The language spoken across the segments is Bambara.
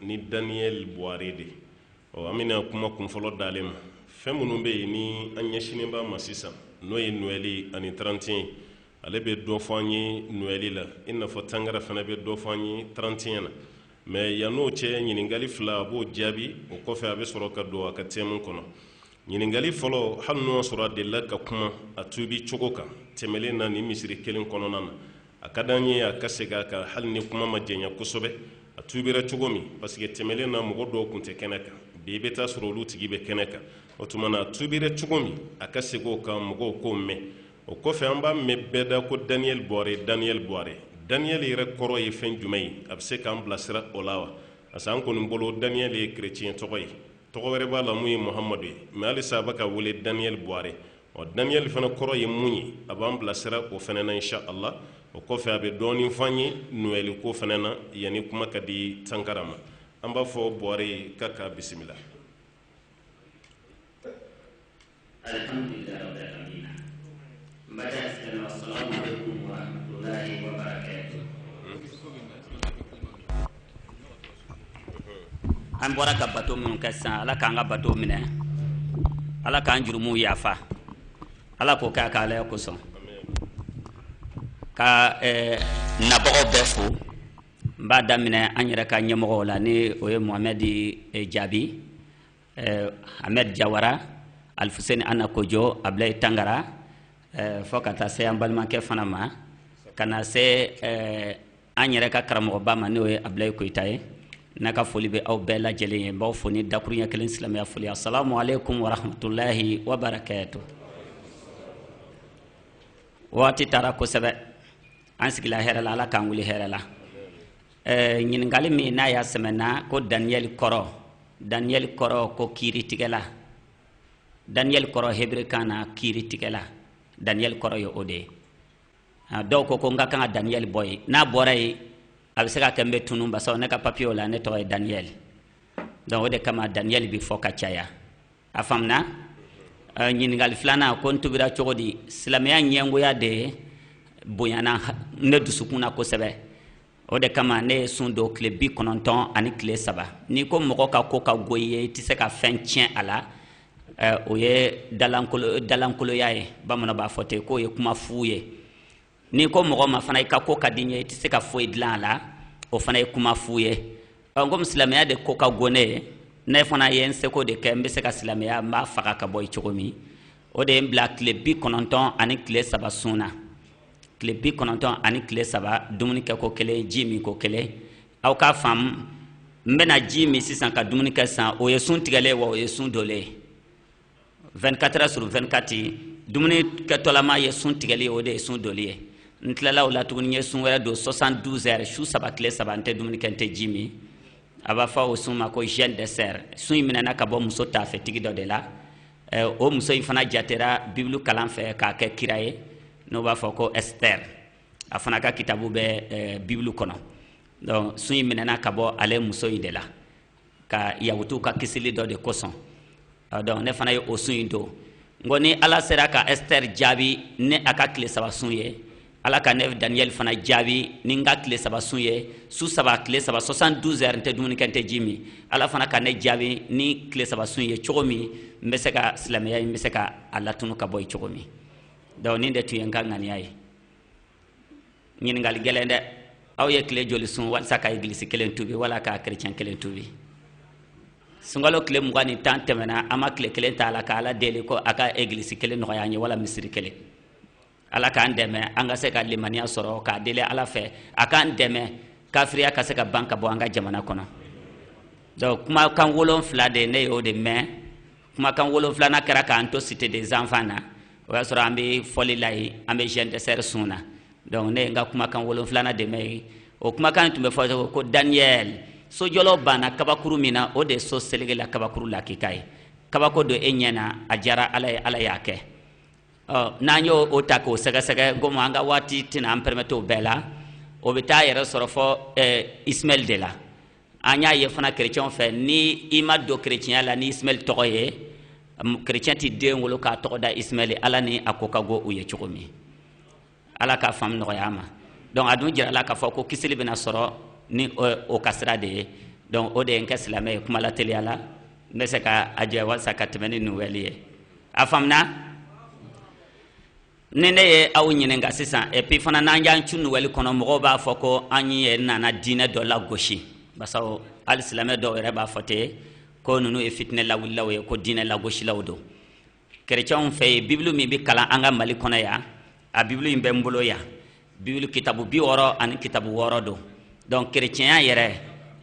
ni daniyɛl buware de ɔ an bɛna kuma kun fɔlɔ d'ale ma fɛn minnu bɛ yen ni an ɲɛsinnen b'a ma sisan n'o ye nɔɛli ani trente et un ye ale bɛ dɔ fɔ an ye nɔɛli la i n'a fɔ tangara fana bɛ dɔ fɔ an ye trente et un na mais yann'o cɛ ɲininkali fila a b'o jaabi o kɔfɛ a bɛ sɔrɔ ka don a ka thème kɔnɔ ɲininkali fɔlɔ hali n'o y'a sɔrɔ a delila ka kuma a tuubi cogo kan tɛmɛlen na nin misiri kelen kɔnɔna na A ka d'an ye a ka segin a kan hali ni kuma ma janya kosɛbɛ, a tuubira cogo min, parce que tɛmɛlen na mɔgɔ dɔw tun tɛ kɛnɛ kan, bi i bɛ taa sɔrɔ olu tigi bɛ kɛnɛ kan, o tuma na a tuubira cogo min, a ka segin o kan mɔgɔw k'o mɛn. O kɔfɛ, an b'a mɛn bɛɛ da ko Daniel Bɔre, Daniel Bɔre. Daniel yɛrɛ kɔrɔ ye fɛn jumɛn ye? A bɛ se k'an bilasira o la wa? Parce que an kɔni bolo Daniel ye chrétien tɔgɔ ye. Tɔgɔ wɛrɛ b'a la mun ye Mohamadu ye, mais halisa a bɛ ka wele Daniel Bɔre. ɔ daniyɛli fana kɔrɔ ye mun ye a b'an bilasira o fana na insha Allah o kɔfɛ a bɛ dɔɔnin fɔ an ye noɛli ko fana na yanni kuma ka di tangara ma an b'a fɔ bɔre ka k'a bisimila alhamdulilayi rabbil alamin n baden alisilamɛw assalamu aleykum wa rahmatulahi wa barakatuhu an bɔra ka bato minnu kɛ sisan ala k'an ka bato minɛ ala k'an jurumuw yafa ala k'o kɛ a ka alaya kosɔn ka eh, nabagaw bɛɛ fo n b'a daminɛ an yɛrɛ ka ɲɛmɔgɔw la ni o ye mohamɛd eh, jaabi eh, ahmed jawara alifuseni ana kojo abulayi tangara eh, fo ka taa se an balimakɛ fana ma ka na se eh, an yɛrɛ ka karamɔgɔba ma n'o ye abulayi koyita ye ne ka foli bɛ aw bɛɛ lajɛ lajɛlen ye n b'aw fo ni dakuruɲɛ kelen silamɛya foli assalamu aleykum wa rahmatulahi wa barakatuhu waati taara kosɛbɛ an sigila hɛrɛ la ala k'an wuli hɛrɛ la ɛɛ ɲininkali min n'a y'a sɛmɛna ko daniyɛli kɔrɔ daniyɛli kɔrɔ ko kiiritigɛla daniyɛli kɔrɔ hebere kan na kiiritigɛla daniyɛli kɔrɔ ye o de ye dɔw ko ko n ka kan ka daniyɛli bɔ yen n'a bɔra yen a bɛ se ka kɛ n bɛ tunun parce que ne ka papiyew la ne tɔgɔ ye daniyɛli donc o de kama daniyɛli bɛ fɔ ka caya a faamuna ɲininkali filanan ko n tuubira cogo di silamɛya ɲɛngoya de bonyana ne dusukun na kosɛbɛ o de kama ne ye sun don tile bi kɔnɔntɔn ani tile saba n'i ko mɔgɔ ka ko ka go i ye i tɛ se ka fɛn tiɲɛ a la eh, o ye dalankoloya ye bamananw b'a fɔ ten k'o ye kuma fu ye n'i ko mɔgɔ ma fana i ka ko ka di n ye i tɛ se ka foyi dilan a la o fana ye kuma fu ye ɔ komi silamɛya de ko ka go ne ye ne fana ye n seko de kɛ n bɛ se ka silamɛya n b'a faga ka bɔ yen cogo min o de ye n bila tile bi kɔnɔntɔn ani tile saba sun na tile bi kɔnɔntɔn ani tile saba dumuni kɛ ko kelen ji min ko kelen aw k'a faamu n bɛna ji min sisan ka dumuni kɛ sisan o ye sun tigɛlen wa o ye sun dolen ye 24 heures sur 24 dumuni kɛtɔlama ye sun tigɛli ye o de ye sun doli ye n tilala o la tuguni n ye sun wɛrɛ don 72 heures su saba tile saba n tɛ dumuni kɛ n tɛ ji min a b'a fɔ o sun ma ko jeûne d'esther sun in minɛna ka bɔ muso taafetigi dɔ de la ɛ o muso in fana jatera bibulu kalan fɛ k'a kɛ kira ye n'o b'a fɔ ko ɛsitɛri a fana ka kitabu bɛ ɛ bibulu kɔnɔ donc sun in minɛna ka bɔ ale muso in de la ka yahutuw ka kisili dɔ de kosɔn donc ne fana ye o sun in don n ko ni ala sera ka ɛsitɛri jaabi ni a ka tile saba sun ye ala ka ne daniyɛli fana jaabi ni n ka tile saba sun ye su saba tile saba 72 heures n tɛ dumuni kɛ n tɛ ji min ala fana ka ne jaabi ni tile saba sun ye cogo min n bɛ se ka silamɛya n bɛ se ka a latunu ka bɔ yen cogo min donc nin de tun ye n ka ŋaniya ye ɲininkali gɛlɛn dɛ aw ye tile joli sun walisa ka egilisi kelen tubi wala ka kerecɛn kelen tubi sunkalo tile mugan ni tan tɛmɛna an ma tile kelen ta a la ka ala deli ko a ka egilisi kelen nɔgɔya an ye wala misiri kelen ala k'an dɛmɛ an ka se ka limaniya sɔrɔ k'a deli ala fɛ a k'an dɛmɛ kafiriya ka se ka ban ka bɔ an ka jamana kɔnɔ donc kumakan wolon fila de ne y'o de mɛn kumakan wolon filanan kɛra k'an to cité des enfants na o y'a sɔrɔ an bɛ fɔli la yen an bɛ jeûne d'esther sun na donc ne ye n ka kumakan wolon filanan de mɛn yen o kumakan tun bɛ fɔ ko daniyɛl sojɔlaw banna kabakuru min na o de ye so seleke la kabakuru lakika ye kabako don e ɲɛ na a diyara ala ye ala y'a kɛ n'an y'o ta k'o sɛgɛsɛgɛ komi an ka waati tɛna an pɛrɛmɛtɛ o bɛɛ la o bɛ taa yɛrɛ sɔrɔ fɔ ismaɛl de la an y'a ye fana kerecɛnw fɛ ni i ma don kerecɛnya la ni ismaɛl tɔgɔ ye kerecɛn tɛ den wolo k'a tɔgɔ da ismaɛl la ni a ko ka go u ye cogo min ala k'a faamu nɔgɔya ma donc a dun jirala k'a fɔ ko kisili bɛna sɔrɔ ni o ka sira de ye donc o de ye n kɛ silamɛ ye kuma lateliya la n bɛ se ka a jɛ walisa ka tɛmɛ ni nuwɛli ye a faamuna ni ne ye aw ɲininka sisan epi fana n'an y'an cu nuwɛli kɔnɔ mɔgɔw b'a fɔ ko an ye nana diinɛ dɔ lagosi basaw hali silamɛ dɔw yɛrɛ b'a fɔ ten ko ninnu ye fitinɛ lawulilaw ye ko diinɛ lagosilaw don kerecɛnw fɛ yen bibulu min bɛ kalan an ka mali kɔnɔ yan a bibulu in bɛ n bolo yan bibulu kitabu bi wɔɔrɔ ani kitabu wɔɔrɔ don donc kerecɛnya yɛrɛ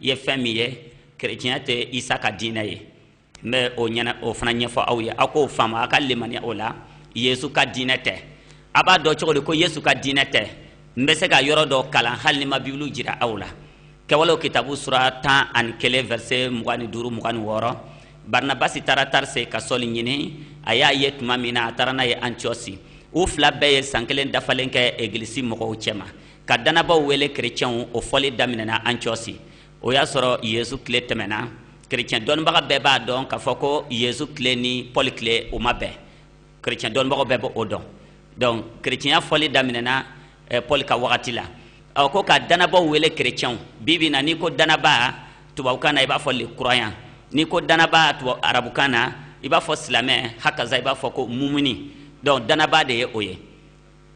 ye fɛn min ye kerecɛnya tɛ isa ka diinɛ ye n bɛ o ɲɛna o fana ɲɛfɔ aw ye aw k'o faamu aw ka limaniya o la yesu ka diinɛ tɛ a b'a dɔn cogo di ko yesu ka diinɛ tɛ n bɛ se ka yɔrɔ dɔ kalan hali ni n ma bibulu jira aw la kɛwalew kitabu sura tan ani kelen vɛrse mugan ni duuru mugan ni wɔɔrɔ barinabasi taara tarse ka sɔli ɲini a y'a ye tuma min na a taara n'a ye antiyɔsi u fila bɛɛ ye san kelen dafalen kɛ egilisi mɔgɔw cɛma ka dannabaaw wele kerecɛnw o fɔli daminɛna antiyɔsi o y'a sɔrɔ yezu tile tɛmɛna kerecɛn dɔnnibaga bɛɛ b'a dɔn k'a fɔ ko yezu tile ni pɔli tile o ma bɛn kerecɛn dɔnnibagaw bɛɛ b'o dɔn donc kerecɛnya fɔli daminɛna eh, paul ka wagati la ɔ ko ka dannabaaw wele kerecɛnw bi bi na n'i ko dannabaa tubabukan na i b'a fɔ le croyant n'i ko dannabaa tubabu arabukan na i b'a fɔ silamɛ hakaza i b'a fɔ ko mumuni donc dannabaa de ye o ye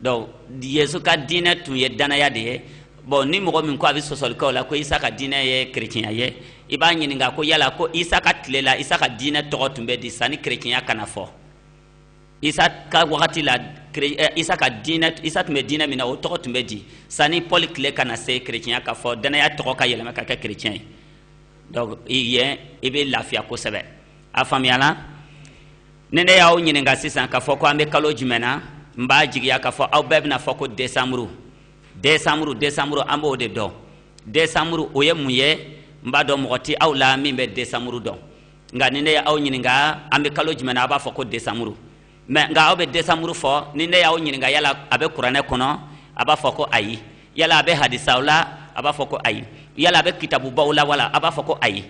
donc yezu ka diinɛ tun ye dannaya de ye bɔn ni mɔgɔ min ko a bɛ sɔsɔli k'aw la ko isa ka diinɛ ye kerecɛnya ye i b'a ɲininka ko yala ko isa ka tile la isa ka diinɛ tɔgɔ tun bɛ di sanni kerecɛnya ka na fɔ isa ka wagati la eh, isa ka diinɛ isa tun bɛ diinɛ min na o tɔgɔ tun bɛ di sani pɔli tile ka na se kerecɛnya ka fɔ dannaya tɔgɔ ka yɛlɛma ka kɛ kerecɛn ye donc yen i bɛ lafiya kosɛbɛ a faamuya la ni ne y'aw ɲininka sisan k'a fɔ ko an bɛ kalo jumɛn na n b'a jigiya k'a fɔ aw bɛɛ bɛna fɔ ko desanburu desanburu desanburu an b'o de dɔn desanburu o ye mun ye n b'a dɔn mɔgɔ tɛ aw la min bɛ desanburu dɔn nka ni ne y'aw ɲininka an bɛ kalo jumɛn na a b'a fɔ ko desanburu mɛ nka aw bɛ desanburu fɔ ni ne y'aw ɲininka yala a bɛ kuranɛ kɔnɔ a b'a fɔ ko ayi yala a bɛ hadisaw la a b'a fɔ ko ayi yala a bɛ kitabubaw la wala a b'a fɔ ko ayi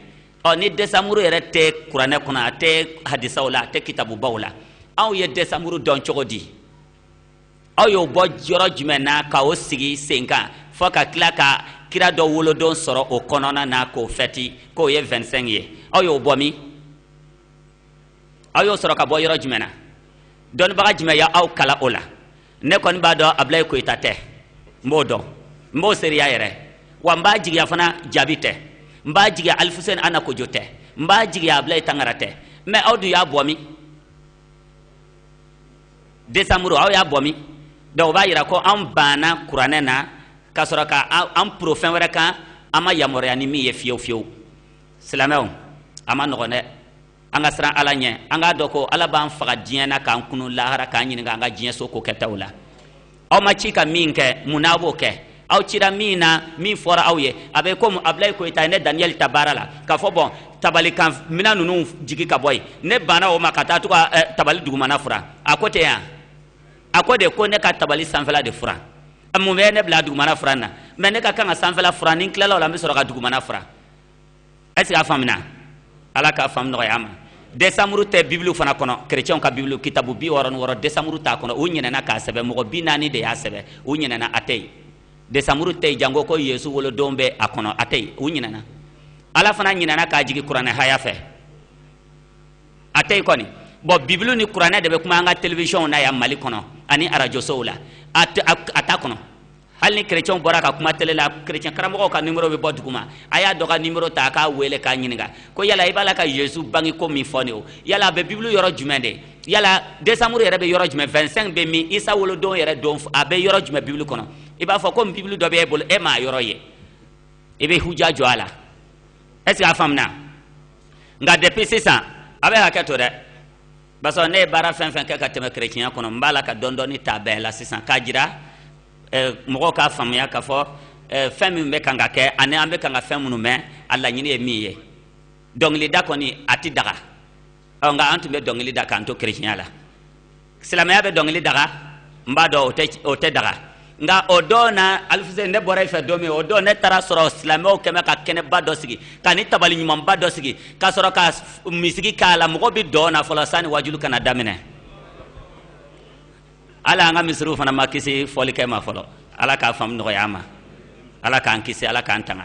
ɔ ni desanburu yɛrɛ tɛ kuranɛ kɔnɔ a tɛ hadisaw la a tɛ kitabubaw la aw ye desanburu dɔn cogo di aw y'o bɔ yɔrɔ jumɛn na ka o sigi sen kan fo ka tila ka kira dɔ wolodon sɔrɔ o kɔnɔna na k'o fɛti k'o ye 25 ye aw y'o bɔ min aw y'o sɔrɔ ka bɔ yɔrɔ jumɛn na dɔnnibaga jumɛn y'aw kalan o la ne kɔni b'a dɔn abulayi koyita tɛ n b'o dɔn n b'o seereya yɛrɛ wa n b'a jigiya fana jabi tɛ n b'a jigiya alifuseni ana kojo tɛ n b'a jigiya abulayi tangara tɛ mɛ aw dun y'a bɔ min desanburu aw y'a bɔ min donc o b'a yira ko an banna kuranɛ na ka sɔrɔ ka an poron fɛn wɛrɛ kan an ma yamaruya ni min ye fiyewu fiyewu silamɛw a ma nɔgɔn dɛ an ka siran ala ɲɛ an k'a dɔn ko ala b'an faga diɲɛ na k'an kunu lahara k'an ɲininka an ka diɲɛ so ko kɛtaw la aw ma ci ka min kɛ munna a b'o kɛ aw cira min na min fɔra aw ye a bɛ komi abulayi koyita ye ne daniyɛli ta baara la k'a fɔ bɔn tabali kan minɛn ninnu jigi ka bɔ yen ne banna o ma ka taa to ka eh, tabali dugumana furan a ko tɛ ɲa a ko de ko ne ka tabali sanfɛla de furan mun bɛ ne bila dugumana furan na mɛ ne ka kan ka sanfɛla furan ni n tilala o la n bɛ sɔrɔ ka dugumana furan est ce que a faamuna ala k'a faamu nɔgɔya ma desanburu tɛ bibulu fana kɔnɔ kerecɛnw ka bibulu kitabu bi wɔɔrɔ ni wɔɔrɔ desanburu t'a kɔnɔ u ɲinɛna k'a sɛbɛ mɔgɔ bi naani de y'a sɛbɛ u ɲinɛna a tɛ yen desanburu tɛ yen janko ko yesu wolodon bɛ a kɔnɔ a tɛ yen u ɲinɛna ala fana ɲinɛna k'a jigin kuranɛ haya fɛ a tɛ yen kɔni bon bibulu ni kuranɛ de bɛ kuma an ka telewisiyɔnw na yan mali kɔnɔ ani arajosow la a t'a kɔnɔ hali ni kerecɛnw bɔra ka kuma tele la kerecɛn karamɔgɔw ka nimero bɛ bɔ duguma a y'a dɔ ka nimero ta a k'a wele k'a ɲininka ko yala i b'a la ka yezu bange ko min fɔ ne o yala a bɛ bibulu yɔrɔ jumɛn de yala desanburu yɛrɛ bɛ yɔrɔ jumɛn 25 bɛ min isa wolodon yɛrɛ don a bɛ yɔrɔ jumɛn bibulu kɔnɔ i b'a fɔ komi bibulu dɔ bɛ e bolo e m'a yɔrɔ ye i bɛ huja jɔ a la est ce que a faamuna nka depuis sisan a bɛ hakɛ to dɛ parce que ne ye baara fɛn fɛn kɛ ka tɛmɛ kerecɛnya kɔnɔ n b'a la ka dɔɔni dɔɔni ta bɛɛ la sisan k'a jira mɔgɔw k'a faamuya k'a fɔ fɛn min bɛ kan ka kɛ ani an bɛ kan ka fɛn minnu mɛn a laɲini ye min ye dɔnkilida kɔni a tɛ daga ɔ nka an tun bɛ dɔnkili da k'an to kerecɛnya la silamɛya bɛ dɔnkili daga n b'a dɔn o tɛ daga nka o don na alifusɛni ne bɔra i fɛ don min o don ne taara sɔrɔ silamɛw kɛmɛ ka kɛnɛba dɔ sigi ka ni tabali ɲumanba dɔ sigi ka sɔrɔ ka miziki k'a la mɔgɔ bɛ dɔn na fɔlɔ sani wajulu ka na daminɛ ala an ka misiriw fana ma kisi fɔlikɛ ma fɔlɔ ala k'a faamu nɔgɔya ma ala k'an kisi ala k'an tanga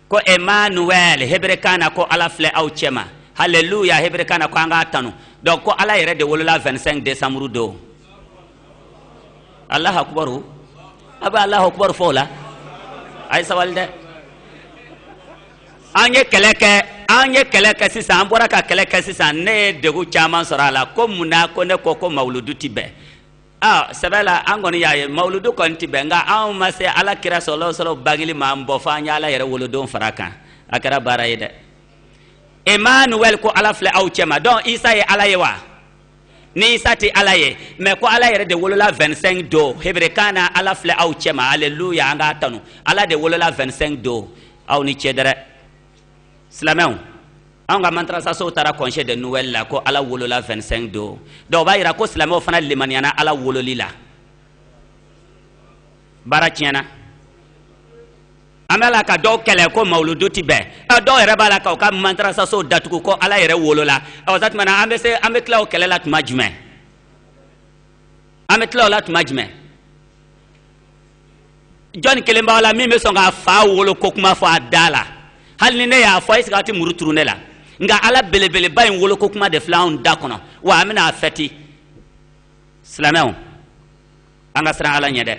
ko emmanuel heberekan na ko ala filɛ aw cɛma haleluya heberekan na ko an k'a tanu donc ko ala yɛrɛ de wolola 25 décembre don alahu akubaru a bɛ alahu akubaru fɔ o la a ye sabali dɛ an ye kɛlɛ kɛ an ye kɛlɛ kɛ sisan an bɔra ka kɛlɛ kɛ sisan ne ye degun caman sɔrɔ a la ko mun na ko ne ko ko mawuludu ti bɛn a sɛbɛ la an kɔni y'a ye mawuludu kɔni tɛ bɛn nka anw ma se ala kira sɔlɔ sɔlɔ bangeli ma an bɔ fo an ye ala yɛrɛ wolodon fara kan a kɛra baara ye dɛ emmanuel ko ala filɛ aw cɛma donc isa ye ala ye wa ni isa tɛ ala ye mais ko ala yɛrɛ de wolola 25 don heberekan na ala filɛ aw cɛma aleluya an k'a tanu ala de wolola 25 don aw ni ce dɛrɛ silamɛw an ka madarasasow taara congé de noël la ko ala wolola 25 don donc o b'a yira ko silamɛw fana limaniyana ala wololi la baara tiɲɛna an bɛ la ka dɔw kɛlɛ ko mawuludu ti bɛn ɛ dɔw yɛrɛ b'a la k'u ka madarasasow datugu ko ala yɛrɛ wolola ɔ sa tuma na an bɛ se an bɛ tila o kɛlɛ la tuma jumɛn an bɛ tila o la tuma jumɛn jɔnni kelen b'aw la min bɛ sɔn k'a fa wolo ko kuma fɔ a da la hali ni ne y'a fɔ est ce que a tɛ muru turu ne la nka ala belebeleba in wolo ko kuma de filɛ anw da kɔnɔ wa an bɛna a fɛti silamɛw an ka siran ala ɲɛ dɛ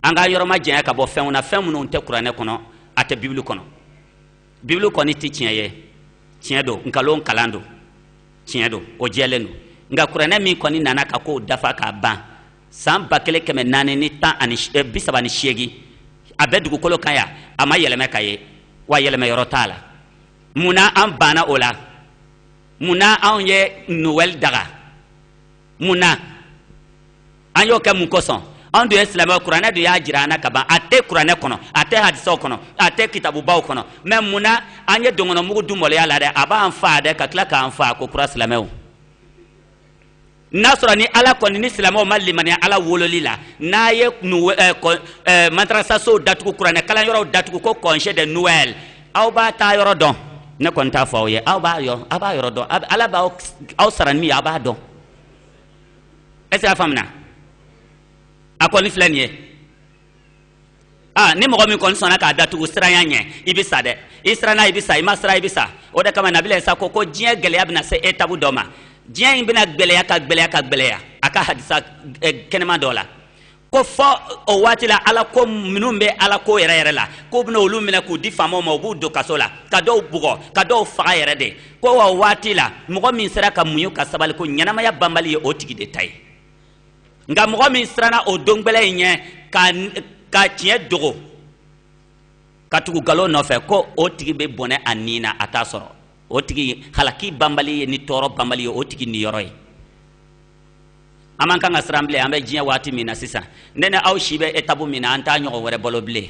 an ka yɔrɔ ma janya ka bɔ fɛnw na fɛn minnu tɛ kuranɛ kɔnɔ a tɛ bibulu kɔnɔ bibulu kɔni tɛ tiɲɛ ye tiɲɛ don nkalon kalan don tiɲɛ don o jɛlen don nka kuranɛ min kɔni nana ka ko dafa k'a ban san ba kelen kɛmɛ naani ni tan ani eh, bi saba ni seegin a bɛ dugukolo kan yan a ma yɛlɛmɛ ka ye wa yɛlɛmɛ yɔrɔ t'a la mun na an banna o la mun na anw ye nowɛli daga mun na an y'o kɛ mun kosɔn anw dun ye silamɛw kuranɛ dun y'a jira an na ka ban a tɛ kuranɛ kɔnɔ a tɛ hadisaw kɔnɔ a tɛ kitabubaw kɔnɔ mais mun na an ye dɔngɔnɔmugu dun mɔlɔya la dɛ a b'an fa dɛ ka tila k'an fa ko kura silamɛw n'a sɔrɔ ni ala kɔni ni silamɛw ma limaniya ala wololi la n'a ye eh, eh, madarasasow datugu kuranɛ kalanyɔrɔw datugu ko congé de noël aw b'a taa yɔrɔ dɔn ne kɔni t'a fɔ aw ye aw b'a yɔrɔ aw b'a yɔrɔ dɔn ala b'aw sara ni min ye aw b'a dɔn est ce que a faamina a kɔni filɛ nin ye aa ni mɔgɔ min kɔni sɔnna k'a datugu siranya ɲɛ i bɛ sa dɛ i siranna i bɛ sa i ma siran i bɛ sa o de kama nabila isa ko ko diɲɛ gɛlɛya bɛna se etabu dɔ ma diɲɛ in bɛna gbɛlɛya ka gbɛlɛya ka gbɛlɛya a ka hadisa eh, kɛnɛma dɔ la ko fɔ o waati la ala ko minnu bɛ ala ko yɛrɛ yɛrɛ la k'u bɛna olu minɛ k'u di faamaw ma u b'u don kaso la ka dɔw bugɔ ka dɔw faga yɛrɛ de ko wa waati la mɔgɔ min sera ka muɲu ka sabali ko ɲɛnamaya banbali ye o tigi de ta ye nka mɔgɔ min siranna o don gbɛlɛn in ɲɛ ka tiɲɛ dogo ka tugu nkalon nɔfɛ ko o tigi bɛ bɔnɛ a ni na a t'a sɔrɔ o tigi halaki banbali ye ni tɔɔrɔ banbali ye o tigi niyɔrɔ ye an man kan ka siran bilen an bɛ diɲɛ waati min na sisan ne ni aw si bɛ etabu min na an t'a ɲɔgɔn wɛrɛ balo bilen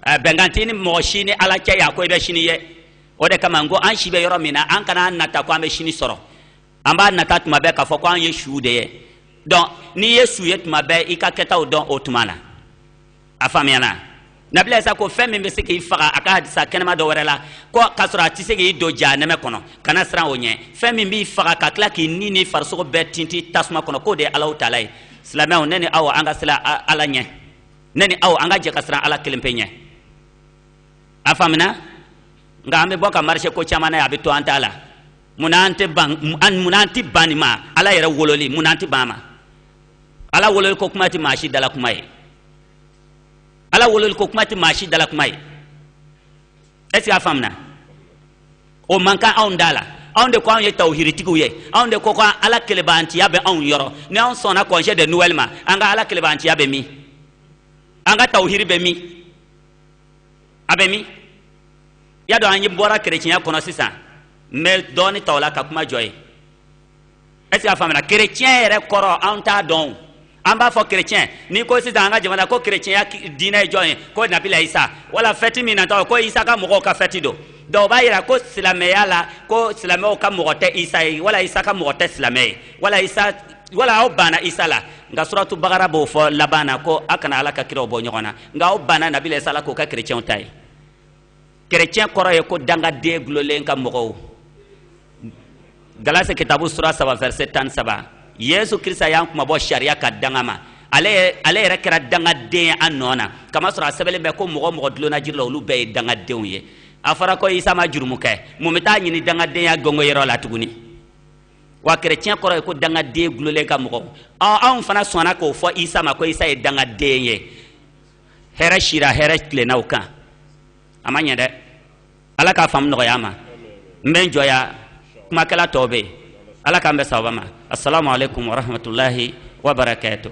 bɛnkan tɛ ni mɔgɔ si ni ala cɛ yan ko i bɛ sini ye o de kama n ko an si bɛ yɔrɔ min na an kana a nata ko an bɛ sini sɔrɔ an b'a nata tuma bɛɛ k'a fɔ ko an ye su de ye donc n'i ye su ye tuma bɛɛ i ka kɛtaw dɔn o tuma na a faamuyana nabila isa ko fɛn min bɛ se k'i faga a ka hadisa kɛnɛma dɔ wɛrɛ la ko k'a sɔrɔ a tɛ se k'i don jahanɛmɛ kɔnɔ kana siran o ɲɛ fɛn min b'i faga ka tila k'i ni ni farisogo bɛɛ tinti tasuma kɔnɔ k'o de ye ala taala ye silamɛw ne ni aw an ka siran ala ɲɛ ne ni aw an ka jɛ ka siran ala kelen pe ɲɛ a faamina nka an bɛ bɔ ka marise ko caman na ye a bɛ to an t'a la munna an tɛ ban munna an tɛ ban nin ma ala yɛrɛ wololi munna an tɛ ban a ma ala wololi ko kuma tɛ maa si dala kuma ye ala wololi ko kuma tɛ maa si dala kuma ye est ce que a faamuna o man kan anw da la anw de ko anw ye tawhiritigiw ye anw de ko ko ala kelebaantiya bɛ anw yɔrɔ ni anw sɔnna congé de noël ma an ka ala kelebaantiya bɛ min an ka tawhiri bɛ min a bɛ min y'a dɔn an ye bɔra kerecɛnya kɔnɔ sisan n bɛ dɔɔni ta o la ka kuma jɔ yen est ce que a faamuna kerecɛn yɛrɛ kɔrɔ an t'a dɔn an b'a fɔ kerecɛn n'i ko sisan an ka jamana ko kerecɛnya diinɛ ye jɔn ye ko nabila isa wala fɛti min natɔ ko isa ka mɔgɔw ka fɛti don dɔw b'a yira ko silamɛya la ko silamɛw ka mɔgɔ tɛ isa ye wala isa ka mɔgɔ tɛ silamɛ ye wala isa wala aw banna isa la nka suratu bakara b'o fɔ laban na ko a kana ala ka kiraw bɔ ɲɔgɔn na nka aw banna nabila isa la k'o kɛ kerecɛnw ta ye kerecɛn kɔrɔ ye ko dangaden gulolen ka mɔgɔw galase kitabu sura saba verset tan saba yesu krista y'an kunmabɔ sariya ka danga ma ale yɛrɛ kɛra dangaden ye an nɔ na k'a masɔrɔ a sɛbɛnlen bɛ ko mɔgɔ o mɔgɔ dulonna jiri la olu bɛɛ ye dangadenw ye a fɔra ko isa ma jurumu kɛ mun bɛ taa ɲini dangadenya gɔngɔyɔrɔ la tuguni wa kerecɛn kɔrɔ ye ko dangaden gulolen ka mɔgɔ anw fana sɔnna k'o fɔ isa ma ko isa ye dangaden ye hɛrɛ sira hɛrɛ tilenna o kan a ma ɲɛ dɛ ala k'a faamu nɔgɔya an ma n bɛ n jɔ yan kumakɛla tɔw bɛ yen ala k'an bɛn sababa ma assalamu alaikum warahmatulahi wabarakatuh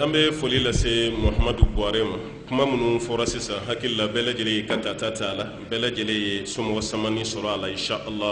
an bɛ foli lase muhamadu buwarɛ ma kuma minnu fɔra sisan n hakili la bɛɛ lajɛlen y'i ka tata ta a la bɛɛ lajɛlen ye somɔgɔ samani sɔrɔ a la insha Allah